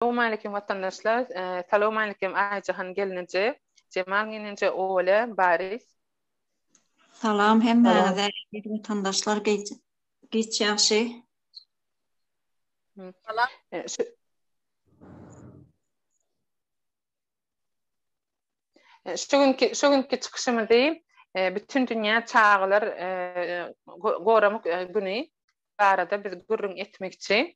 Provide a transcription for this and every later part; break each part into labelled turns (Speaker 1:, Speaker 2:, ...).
Speaker 1: Sowmalikim watandaşlar Salowmalikim Aýjahan gelneje Jemal geneje Ola Baris.
Speaker 2: Salam hemmäňize
Speaker 3: eziz watandaşlar
Speaker 2: giç ýagşy. Salam. Şu
Speaker 1: günki şu günki çykyşymyzy bütün dünýä çagalar goramak güni barada biz gürrüň etmekçi.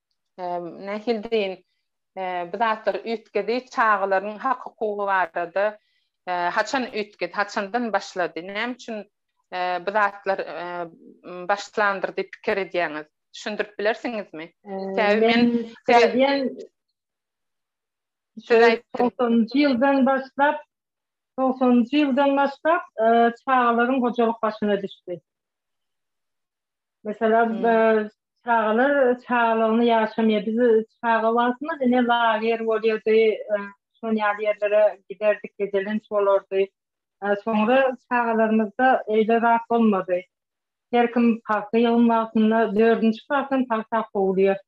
Speaker 1: nähili deýin, bu zatlar üýtgedi, çagalaryň hak-hukugy barada haçan üýtgedi, haçandan başlady, näme üçin bu zatlar başlandyr diýip pikir edýäňiz? Düşündirip bilersiňizmi? Sebäbi men pikir edýän, siz
Speaker 3: aýdyň. Togsanjy ýyldan başlap, togsanjy ýyldan başlap çagalaryň hojalyk başyna düşdi. Meselem, Çagalar çagalygyny ýaşamaýar. Biz çaga wagtymyz ine lager bolýardy, şon ýaly ýerlere giderdik, gezelenç bolardy. Soňra çagalarymyzda eýle zat bolmady. Her kim pagta ýygym wagtynda dördünji klasdan pagta kowulýar.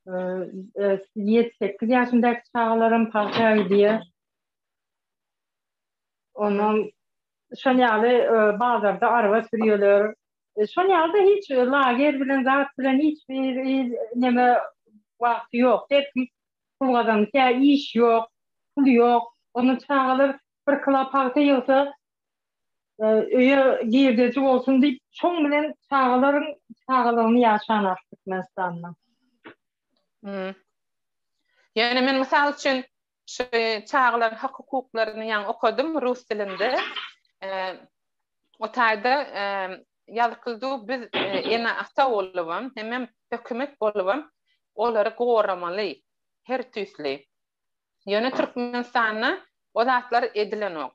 Speaker 3: Ýedi-sekiz ýaşyndaky çagalaram pagta gidýär. Ondan şon ýaly bazarda araba sürýärler. E, şol ýagda hiç lager bilen zat bilen hiç bir neme wagty ýok. Her kim pul gazanýar, kä iş ýok, pul ýok. Onda çagalar bir kilo pagta ýygsa, e, öýe girdeji bolsun diýip, şoň bilen çagalaryň çagalygyny ýaşanlar Türkmenistanda. Hmm.
Speaker 1: Ýöne men mysal üçin Şu çagalaryň hak-hukuklaryny ýaňy okadym rus dilinde. O taýda ýazykyldy, biz ene-ata bolubam, hemem hökümet bolubam olary goramaly her tüýsli. Ýöne Türkmenistanda o zatlar edilenok.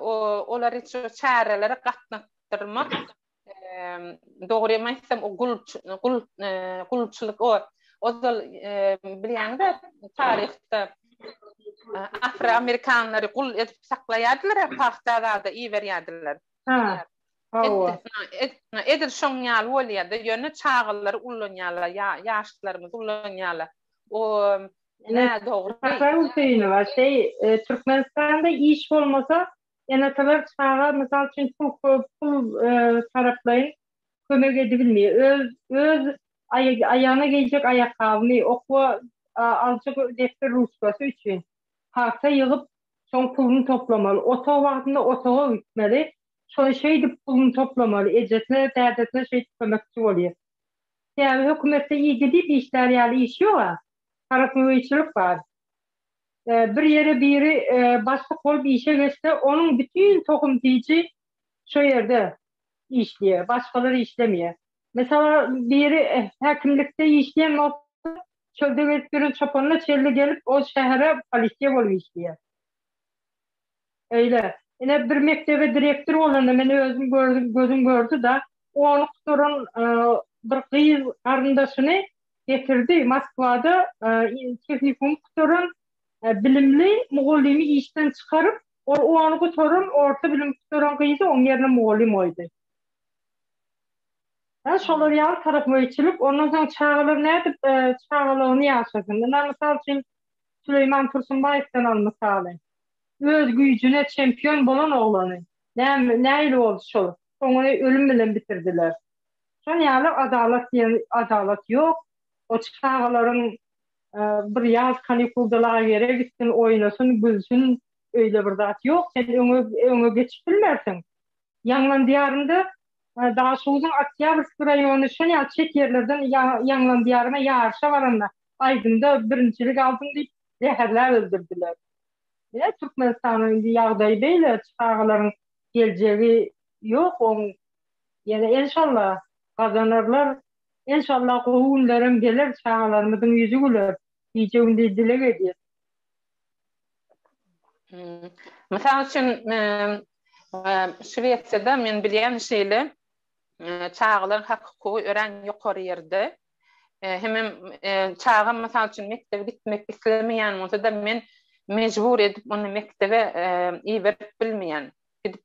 Speaker 1: Olary şu çärelere gatnatdyrmak Dogrymy aýtsam, o gul gul gulçylyk o ozal bilýäňiz-ä taryhda afroamerikanlary gul edip saklaýardylar-a, pagta zada iberýärdiler. Ha. Hawa. Edil şoň ýaly bolýar-da, ýöne çagalary ullanýarlar, ýaşlarymyzy ullanýarlar. O nädogry.
Speaker 3: Türkmenistanda iş bolmasa, Ene-atalar çaga, mysal üçin, pul taraplaýyn kömek edibilmeýär. Öz öz aýagyna geýjek aýakgabyny, okuwa aljak depder-ruçkasy üçin pagta ýygyp, şoň puluny toplamaly. Otag wagtynda otaga gitmeli. Şoň şeýdip puluny toplamaly. Ejesine, dädesine şeýdip kömekçi bolýar. Sebäbi hökümetde iýgi diýip işlär ýaly iş ýog-a. Tarapgöýçilik bar. e, bir ýere biri e, bassyk bolup işe geçse, onuň bütin tohum tiji şo ýerde işleýär, başgalar işlemeýär. Mesela biri e, häkimlikde işleýän bolsa, çölde gezip ýören çopanyna çelli gelip, ol şähere polisiýa bolup işleýär. Öýle. Ine, bir mekdebe direktor bolanda men özüm gördüm, gözüm gördi-da, ony gutaran bir gyz garyndaşyny getirdi, Moskwada tehnikum gutaran bilimli mugallymy işden çykaryp, ol ony gutaran, orta bilim gutaran gyzy oň ýerine mugallym goýdy. Hä, şolar ýaly tarapgöýçilik. Ondan soň çagalar nädip çagalygyny ýaşasyn? Ynha, mysal üçin, Süleýman Tursunbaýewden al mysaly. Öz güýjüne çempion bolan oglany näme nähili boldy şol. Soňuny ölüm bilen bitirdiler. Şon ýaly adalat diýen adalat ýok. O çagalaryň bir ýaz kanikulda lagere gitsin, oýnasyn, gülsün öýle bir zat ýok. Sen öňe öňe geçip bilmersiň. Ýaňlan diýarynda Daşoguzyň Oktýabrskiý raýony şon ýaly çet ýerlerden Ýaňlan diýaryna ýaryşa baranda aýdymda birinjilik aldym diýip zäherläp öldürdiler. Ine, Türkmenistanyň indi ýagdaýy beýle, çagalaryň geljegi ýok oň. Ýene enşalla gazanarlar. Enşalla gowy günlerem geler, çagalarymyzyň ýüzi güler. Gije-gündiz dileg edýän.
Speaker 1: Mysal üçin, Şwesiýada men bilýän şeýle, çagalaryň hak-hukugy örän ýokary ýerde. Hemem çagam mysal üçin mekdebe gitmek islemeýän bolsa-da men mejbur edip ony mekdebe iberip bilmeýän. Gidip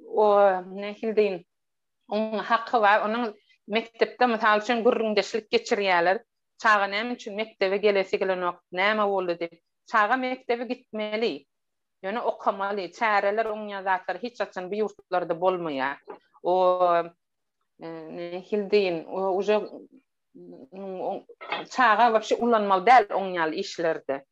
Speaker 1: o nähili deýin, onuň haky bar, onuň mekdepde mysal üçin gürrüňdeşlik geçirýärler, çaga näme üçin mekdebe gelesi gelenok, näme boldy diýip. Çaga mekdebe gitmeli, ýöne okamaly, çäreler oňýan zatlar hiç haçan bu ýurtlarda bolmaýar. O nähili deýin, uje çaga wapşe ulanmaly däl oň ýaly işlerde.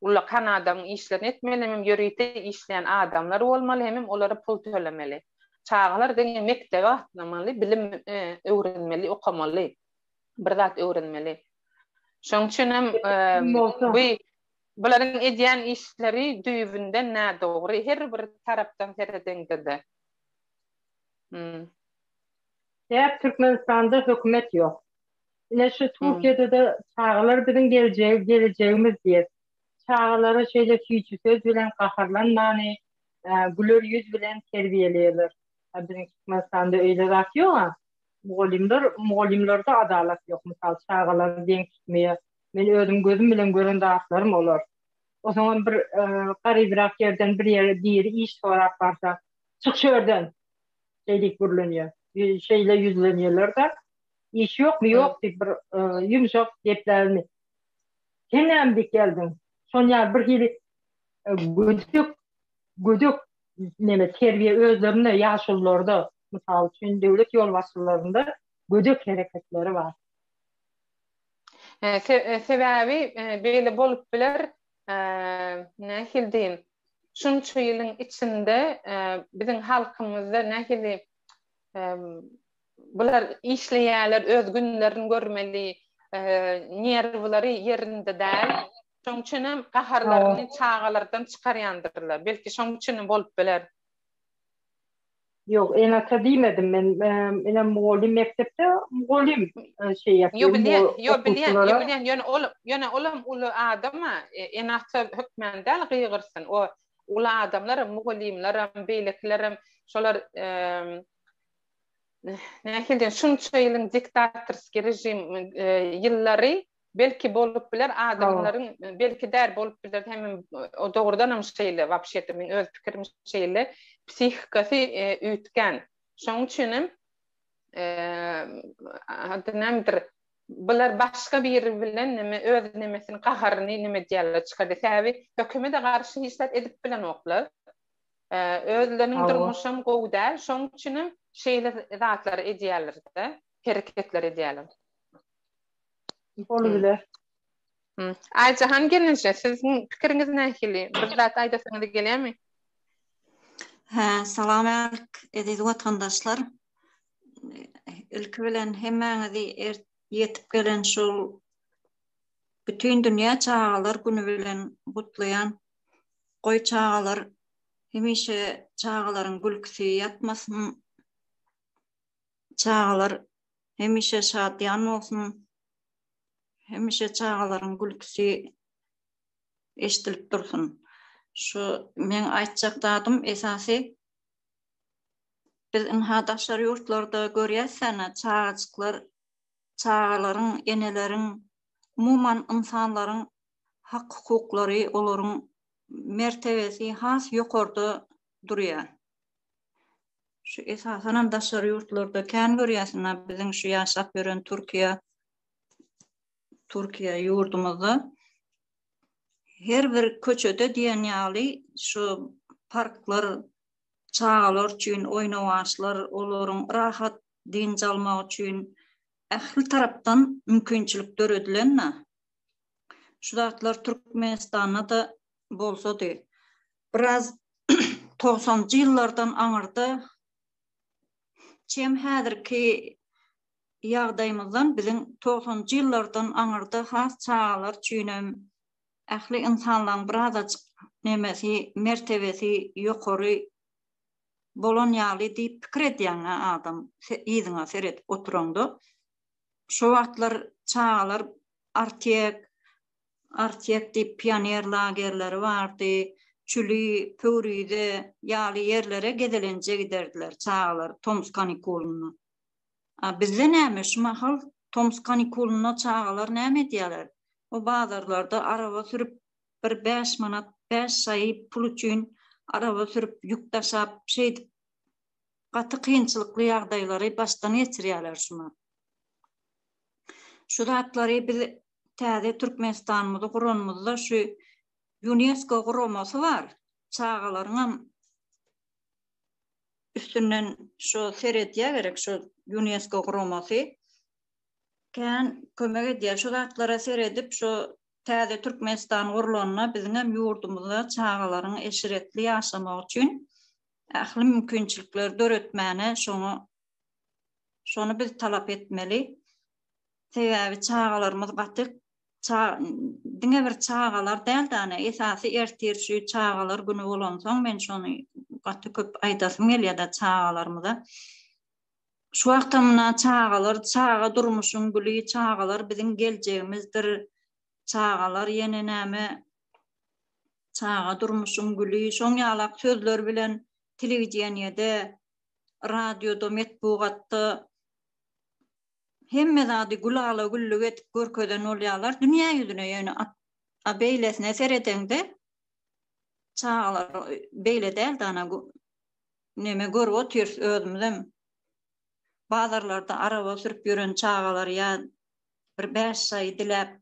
Speaker 1: Ullakan adamyň işlerini etmeli, hemem ýörite işleýän adamlar bolmaly, hemem olara pul tölemeli. Çagalar diňe mekdebe gatnamaly, bilim öwrenmeli, okamaly, bir zat öwrenmeli. Şonuň üçin hem bu bularyň edýän işleri düýbünden nädogry, her bir tarapdan seredeňde-de.
Speaker 3: Täk Türkmenistanda hökümet ýok. Ine şu Türkiýede-de çagalar biziň geljegi, gelejegimiz diýip, çagalara şeýle süýji söz bilen gaharlanmany, güler ýüz bilen terbiýeleýärler. A biziň Türkmenistanda öýle zat ýog-a. Mugallymlar, mugallymlarda adalat ýok. Mysal, çagalary deň tutmaýar. Men özüm gözüm bilen gören zatlarym olar. Osaňam bir garybrak ýerden bir ýere biri iş sorap barsa, Çyk şu ýerden! Şeý diýip gürlenýär. Şeýle ýüzlenýärler-de, Iş ýokmy, ýok diýip bir ýumşak geplärini. Sen näme diýip geldiň? Şony ýaly birhili gödek, gödek neme terbiýe özlerinde ýaşulularda, mysal üçin, döwlet ýolbaşçylarynda gödek hereketleri bar.
Speaker 1: Sebäbi beýle bolup biler, nähili diýin, şunça ýylyň içinde biziň halkymyzda nähili bular işleýärler, öz günlerini görmeli, nerwlary ýerinde däl. Şonuň üçin hem gaharlaryny çagalardan çykarýandyrlar. Belki şonuň üçin hem bolup biler. Ýok,
Speaker 3: ene-ata diýmedim men. Ene mugallym mekdepde, mugallym şeý ýapýar. Ýok, bilýän, ýok, bilýän, ýok,
Speaker 1: bilýän. Ýöne ol, ýöne olam uly adam-a, ene-ata hökmany däl gygyrsyn. O uly adamlaram, mugallymlaram, beýlekilerem, şolar nähili diýen, şunça ýylyň diktatorskiý režim ýyllary Belki bolup biler adamlaryň belki däl bolup biler hem dogrudanam şeýle wapşeto men öz pikirim şeýle psihikasy üýtgän şoň üçinem ady nämedir bular başga biri bilen neme öz nemesini gaharyny neme edýärler çykardy sebäbi hökümede garşy hiç zat edip bilenoklar özleriniň durmuşam gowy däl şoň üçinem şeýle zatlar edýärlerde hereketler edýärler.
Speaker 3: Bolubiler. Hmm.
Speaker 1: Aýjahan gelnije, siziň pikiriňiz nähili? Bir zat aýdasyňyz gelýärmi? Hä,
Speaker 2: salam älik, eziz watandaşlar. Ilki bilen hemmäňizi er ýetip gelen şu Bütin dünýä çagalar güni bilen gutlaýan. Goý çagalar hemişe çagalaryň gülküsi ýatmasyn. Çagalar hemişe şadyýan bolsun. Hemişe çagalaryň gülküsi eşidilip dursun. Şu men aýtjak zadym esasy biz ynha daşary ýurtlarda görýäs sene çagajyklar çagalaryň, eneleriň, umuman ynsanlaryň hak-hukuklary, olaryň mertebesi has ýokarda durýar. şu esasanam daşary ýurtlarda kän görýärsiň, biziň şu ýaşap ýören Türkiýe Türkiýe ýurdumyzda her bir köçede diýen ýaly şu parklar çagalar üçin oýnawaçlar, olaryň rahat dynç almagy üçin ähli tarapdan mümkinçilik döredilen-de. Şu zatlar Türkmenistanda-da bolsady. Biraz togsanjy ýyllardan aňyrda çem häzirki ýagdaýymyzdan biziň togsanjy ýyllardan aňyrda has çagalar üçinem ähli ynsanlaň birazajyk nemesi mertebesi ýokary bolan ýaly diýip pikir edýäňä adam yzyňa seredip oturaňda şo wagtlar çagalar artek Artyýek diýip pioner lagerleri bardy. Çüli, Pöwrize ýaly ýerlere gezelenje giderdiler çagalar tomus kanikulynda. A bizde näme, şu mahal tomus kanikulynda çagalar näme edýärler? O bazarlarda araba sürüp, bir bäş manat, bäş şaý pul üçin araba sürüp, ýük daşap, şeýdip gaty kynçylykly ýagdaýlary başdan geçirýärler şu ma. Şu zatlary biz täze Türkmenistanymyzy guranymyzda şu Ýunesko guramasy bar. Çagalaryň hem üstünden şu seredýär gerek şu Ýunesko guramasy. Kän kömek edýär. Şu zatlara seredip şu täze Türkmenistan gurulanda biziň hem ýurdumyzda çagalaryň eşretli ýaşamagy üçin ähli mümkinçilikleri döretmäne şoňa şony biz talap etmeli. Sebäbi çagalarymyz gaty diňe bir çagalar däl däne esasy ertir şu çagalar güni bolansoň men şony gaty köp aýdasym gelýärde çagalarymyza. Şu wagtam muna çagalar, çaga durmuşyň güli, çagalar biziň geljegimizdir. Çagalar ýene näme? Çaga durmuşyň güli, şoň ýalak sözler bilen telewideniýede, radioda, metbugatda Hemme zady gülala-güllük edip görkezen bolýarlar dünýä ýüzüne, ýöne a beýlesine seredeňde, çagalar beýle däl-de, ana, neme görüp otyrys özümizem, bazarlarda araba sürüp ýören çagalar ýa bir bäş şaý diläp,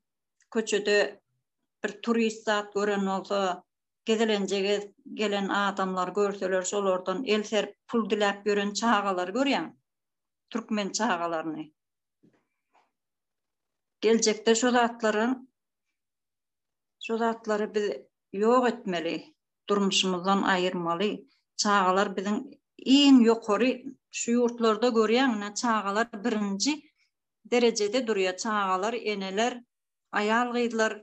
Speaker 2: köçede bir turist zat gören bolsa, gezelenje gezip gelen adamlary görseler, şolardan el serip pul diläp ýören çagalary görýäň. türkmen çagalaryny. Geljekde şu zatlaryň şu zatlary biz ýok etmeli, durmuşymyzdan aýyrmaly. Çagalar biziň iň ýokary şu ýurtlarda görýäňňä çagalar birinji derejede durýar. Çagalar, eneler, aýal gyzlar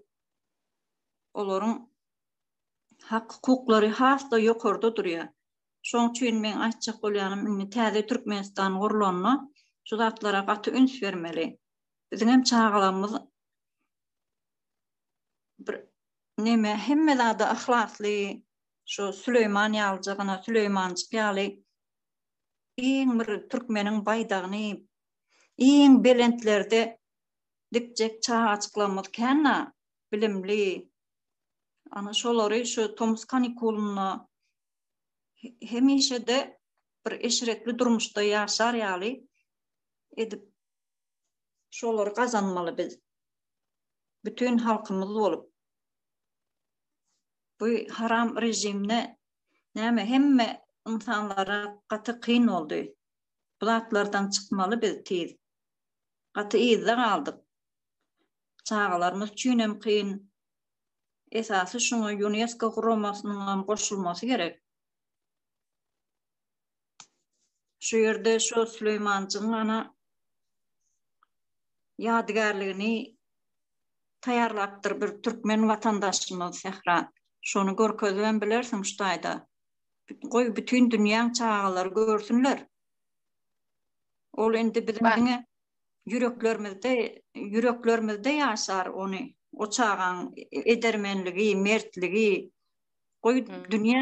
Speaker 2: olaryň hak hukuklary has-da ýokarda durýar. Şoň üçin meň aýtjak bolýanym indi täze Türkmenistan gurlanda şu zatlara gaty üns bermeli. Biziň hem çagalarymyz bir neme hemme zada yhlasly şu Süleýman ýalyjygyna Süleýmanjyk ýaly iň bir türkmeniň baýdagyny iň belentlerde dikjek çagajyklarymyz känä bilimli ana şolary şu tomus kanikulynda hemişe-de bir eşretli durmuşda ýaşar ýaly edip şolary gazanmaly biz. Bütün halkymyz bolup. Bu haram rejimde näme hemme insanlara gaty kyn boldy. Bu zatlardan çykmaly biz tiz. Gaty yzda galdyk. Çagalarymyz üçin hem kyn, Esasy şuňa Ýunesko guramasynyň hem goşulmasy gerek. Şu ýerde şu Süleýmanjygyň ana ýadygärligini taýýarlapdyr bir türkmen watandaşymyz Sähran. Şony görkezip hem bilersiň şu taýda. Goý, bütin dünýäň çagalary görsünler. Ol indi biziň diňe ýüreklerimizde ýüreklerimizde ýaşar ony o çagaň edermenligi mertligi goý dünýä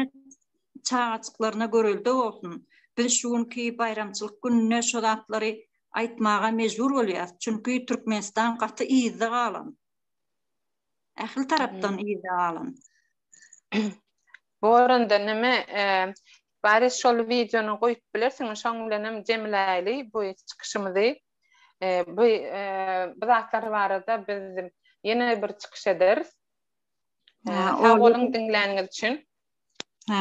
Speaker 2: çagajyklaryna görelde bolsun biz şu günki baýramçylyk gününe şu zatlary aýtmaga mejbur bolýas çünki türkmenistan gaty yzda galan ähli tarapdan yzda galan
Speaker 1: boranda neme Bari şol wideony goýup bilersiňmi şoň bilenem jemläýli bu çykyşymyzy bu bu zatlar barada biz ýene bir çykyş ederis. Sag boluň diňläniňiz üçin.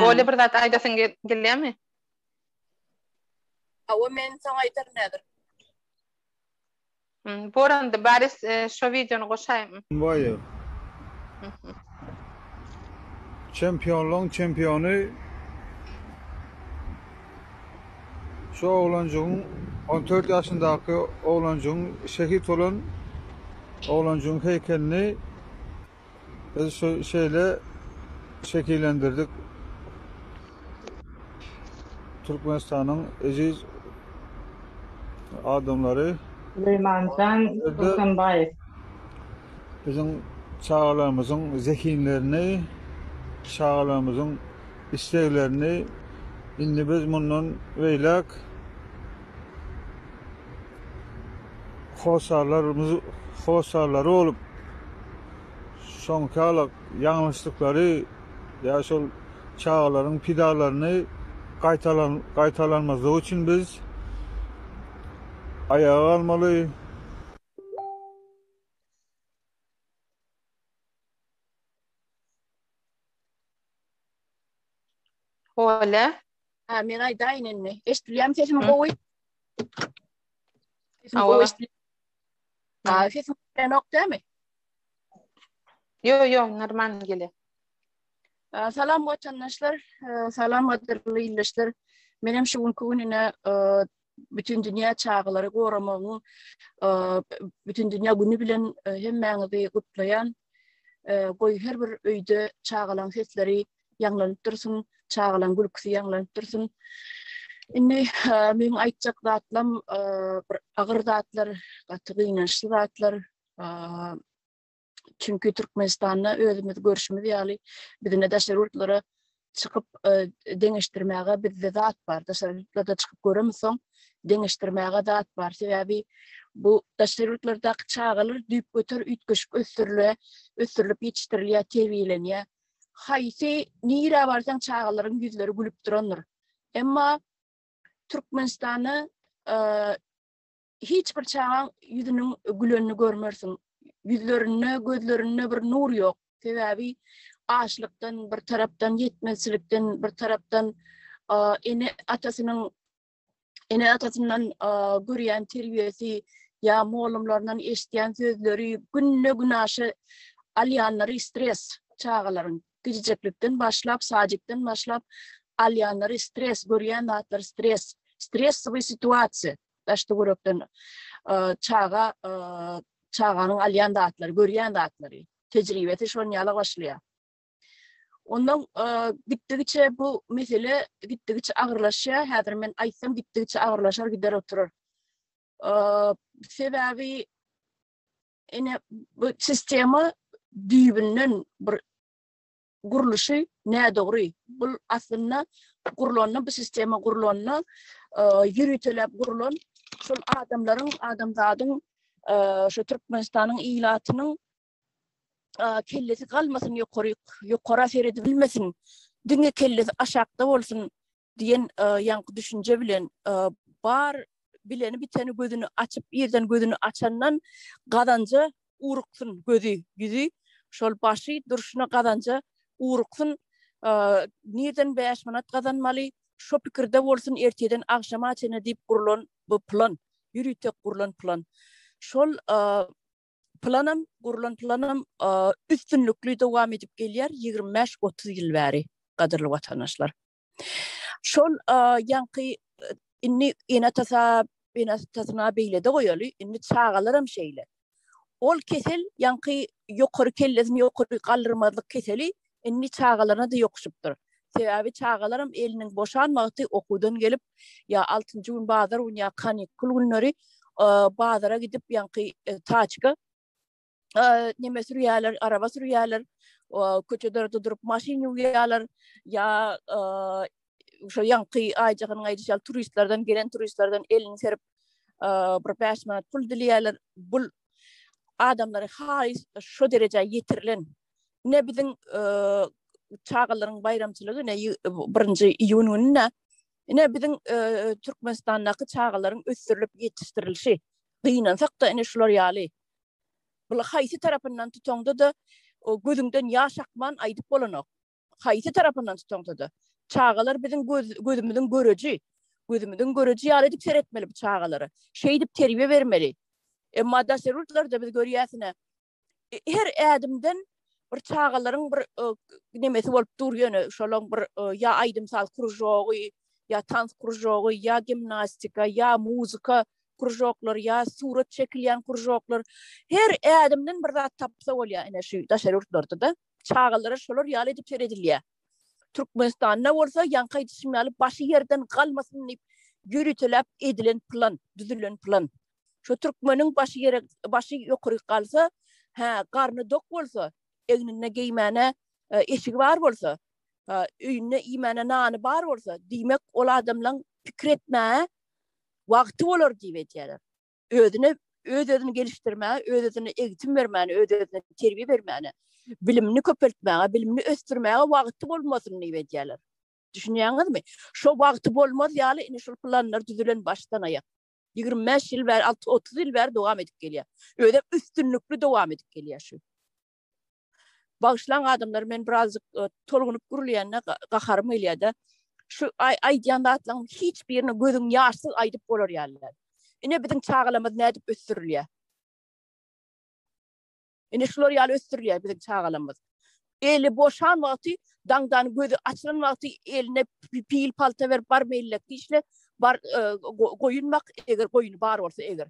Speaker 1: Oly bir zat aýdasyň gelýärmi?
Speaker 4: Hawa men soň aýdaryn häzir.
Speaker 1: Hum boranda baris şo videony goşaým. Baýew.
Speaker 5: Çempionlaň çempiony şu oglanjygyň on dört ýaşyndaky oglanjygyň şehit bolan oglanjygyň heýkelini Biz şu şeýle şekillendirdik. Türkmenistanyň eziz adamlary. Suleymanjan
Speaker 3: Turkmenbaýew.
Speaker 5: Biziň çagalarymyzyň zehinlerini, çagalarymyzyň isleglerini indi biz mundan beýläk Hossarlarymyz hossarlary bolup, soňky ýalňyşlyklary ýa şol çagalaryň pidalaryny gaýtalan gaýtalanmazlygy üçin biz aýaga galmaly. Oleh. Hä men aýdaýyn indi.
Speaker 1: Eşdilýärmi
Speaker 4: sesim gowy? Hawa. Hawa, sesim berenok dämi? Yo,
Speaker 1: yo, normal gele.
Speaker 4: Salam watandaşlar, salam watandaşlar, ildeşler. Men hem şu günki gününe bütün dünya çağları goramagyň bütün dünya günü bilen hemmäňizi gutlaýan. Goý her bir öýde çagalaryň sesleri ýaňlanyp dursun, çagalaň gülküsi ýaňlanyp dursun. Indi meniň aýtjak zatlam bir agyr zatlar, gaty gynançly zatlar. Çünki Türkmenistanda özümiz görşümiz ýaly bizine daşary ýurtlara çykyp deňeşdirmäge bizde zat bar. Daşary ýurtlarda çykyp göremsoň deňeşdirmäge zat bar. Sebäbi bu daşary ýurtlardaky çagalar düýp göter üýtgeşik ösdürile, ösdürilip ýetişdirilýär, terbiýelenýär. haýsy nirä barsaň çagalaryň ýüzleri gülüp durandyr. Emma Türkmenistanda hiç bir çagaň ýüzüniň gülenini görmersiň. Ýüzlerinde, gözlerinde bir nur ýok. Sebäbi açlykdan bir tarapdan ýetmezçilikden bir tarapdan ene atasynyň ene atasyndan görýän terbiýesi ýa mugallymlaryndan eşitýän sözleri günde günaşa alýanlary stres çagalaryň gijeklikden başlap sajikden başlap alýanlary stres görýän zatlar stres stres we situasiýa daşda görekden çaga çaganyň alýan zatlary görýän zatlary tejribesi şon ýala başlaýar Ondan gitdigiçe bu mesele gitdigiçe agyrlaşýar. Häzir men aýtsam gitdigiçe agyrlaşar gider oturar. Sebäbi ene bu sistema düýbünden bir gurluşy nädogry. Bu aslynda gurlanda bu sistema gurlanda ýöritelep gurlan şol adamlaryň, adamzadyň, şu Türkmenistanyň ilatynyň kellesi galmasyn ýokary ýokara seredi bilmesin diňe kellesi aşakda bolsun diýen ýaňky düşünje bilen bar bileni biteni gözüni açyp ýerden gözüni açandan gazanja uruksyn gözi ýüzi şol başy durşuna gazanja uruksyn nirden 5 manat gazanmaly şo pikirde bolsun erteden agşama çenli diýip gurlan bu plan ýürütek gurlan plan şol planam, gurlan planam üstünlikli dowam edip gelýär 25-30 ýyl bäri, gadyrly watandaşlar. Şol ýaňky indi ene-atasa, ene-atasyna beýlede goýaly, indi çagalaram şeýle. Ol kesel ýaňky ýokary kellesini ýokary galdyrmazlyk keseli Indi çagalaryna-da ýokuşypdyr. Sebäbi çagalaram eliniň boşan wagty okuwdan gelip, ýa altynjy gün bazar güni, ýa kanikul günleri bazara gidip, ýaňky taçka neme sürýärler, araba sürýärler, köçelerde durup maşyn ýuwýarlar, ýa şo ýaňky aýjaganyň aýdyşy ýaly turistlerden, gelen turistlerden elini serip, bir bäş manat pul dileýärler. Bu adamlary haýyş şo derejä ýetirilen ne biziň e, çagalaryň baýramçylygy ne 1-nji iýun gününe ne biziň e, Türkmenistandaky çagalaryň ösdürilip ýetişdirilişi gynansak da ine şular ýaly bul haýsy tarapyndan tutaňda da o gözüňden ýaş akman aýdyp bolanok haýsy tarapyndan tutaňda da çagalar biziň göz, gözümiziň göreji gözümiziň göreji ýaly edip seretmeli bu çagalara şeýdip terbiýe bermeli emma daşary ýurtlarda biz görýäsine her ädimden bir çagalaryň bir nemesi bolup dur ýöne şolaň bir ýa aýdym saz kružogy ýa tans kružogy ýa gimnastika ýa muzika kružoklar ýa surat çekilýän kružoklar her ädimden bir zat tapsa bolýar ene şu daşary ýurtlarda da çagalara şolar ýaly edip seredilýär türkmenistanda bolsa ýaňky aýdyşym ýaly başy ýerden galmasyn diýip ýörüteläp edilen plan düzülen plan Şu türkmeniň başy ýere başy ýokary galsa, hä, garny dok bolsa, egninde geýmäne e, eşigi bar bolsa, e, öýünde iýmäne nany bar bolsa, diýmek ol adamlaryň pikir etmä wagty bolar diýip edýärler. Özüne öz özüni gelişdirmä, öz özüne egtim bermäne, öz özüne terbiýe bermäne, bilimini köpeltmäge, bilimini ösdürmäge wagty bolmasyn diýip edýärler. Düşünýäňizmi? Şo wagty bolmaz ýaly indi şul planlar düzülen başdan aýak. Ýigrimi bäş ýyl bäri, alty, otuz ýyl bäri dowam edip gelýär. Özem üstünlikli dowam edip gelýär şu. Bagyşlaň adamlar, men birazjyk e, tolgunyp gürleýände gaharym gelýär-de. Şu aý aýdýan zatlaryň hiç birini gözüň ýaşsyz aýdyp bolar ýaly däl. Ine biziň çagalarymyz nädip ösdürilýär? Ine şular ýaly ösdürilýär biziň çagalarymyz. Eli boşan wagty, daňdan gözi açylan wagty eline pil palta berip bar meýillek işle, bar e, goýun bak, eger goýuny bar bolsa eger.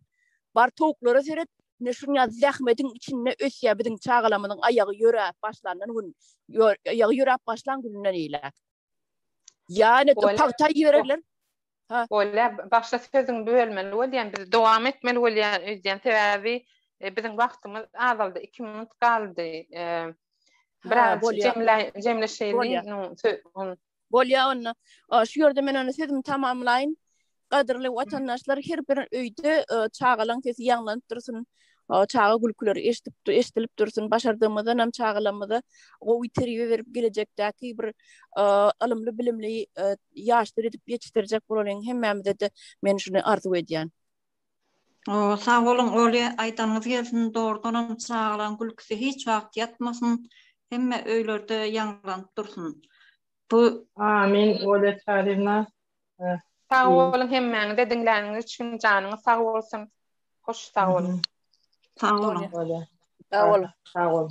Speaker 4: Bar towuklara seret, ne şuň ýaly zähmetiň içinde ösýär biziň çagalarymyzyň aýagy ýöräp başlandan gün, aýagy ýöräp başlan gününden eýläk. Ýa ine pagta ýibererler. Ha. Bolýa,
Speaker 1: başda sözüňi bölmeli bolýan, biz dowam etmeli bolýan öýdýän, sebäbi biziň wagtymyz azaldy, iki minut galdy. Biraz jemleşeýli. Bolýa onda.
Speaker 4: Şu ýerde men onda sözümi tamamlaýyn. Gadyrly watandaşlar, her bir öýde çagalaň sesi ýaňlanyp dursun. O çaga gülküleri eşidip, eşidilip dursun. Başardygymyzdan hem çagalarymyza gowy terbiýe berip, gelejekdäki bir e, ylymly, bilimli e, ýaşlar edip ýetişdirjek bolalyň. Hemmämize de men şuny arzuw edýän. O,
Speaker 2: sag boluň, Oli, aýdanyňyz gelsin. Dogrudan hem çagalaryň gülküsi hiç wagt ýatmasyn. Hemme öýlerde ýaňlanyp dursun. Bu Amin, Olya
Speaker 3: Çarina. Heh. Sag
Speaker 1: Uýy. boluň hemmäňize diňläniňiz üçin janyňyz sag bolsun. Hoş sag
Speaker 2: boluň.
Speaker 1: Sag boluň. Bolýar.
Speaker 4: Sag boluň.
Speaker 1: Sag boluň.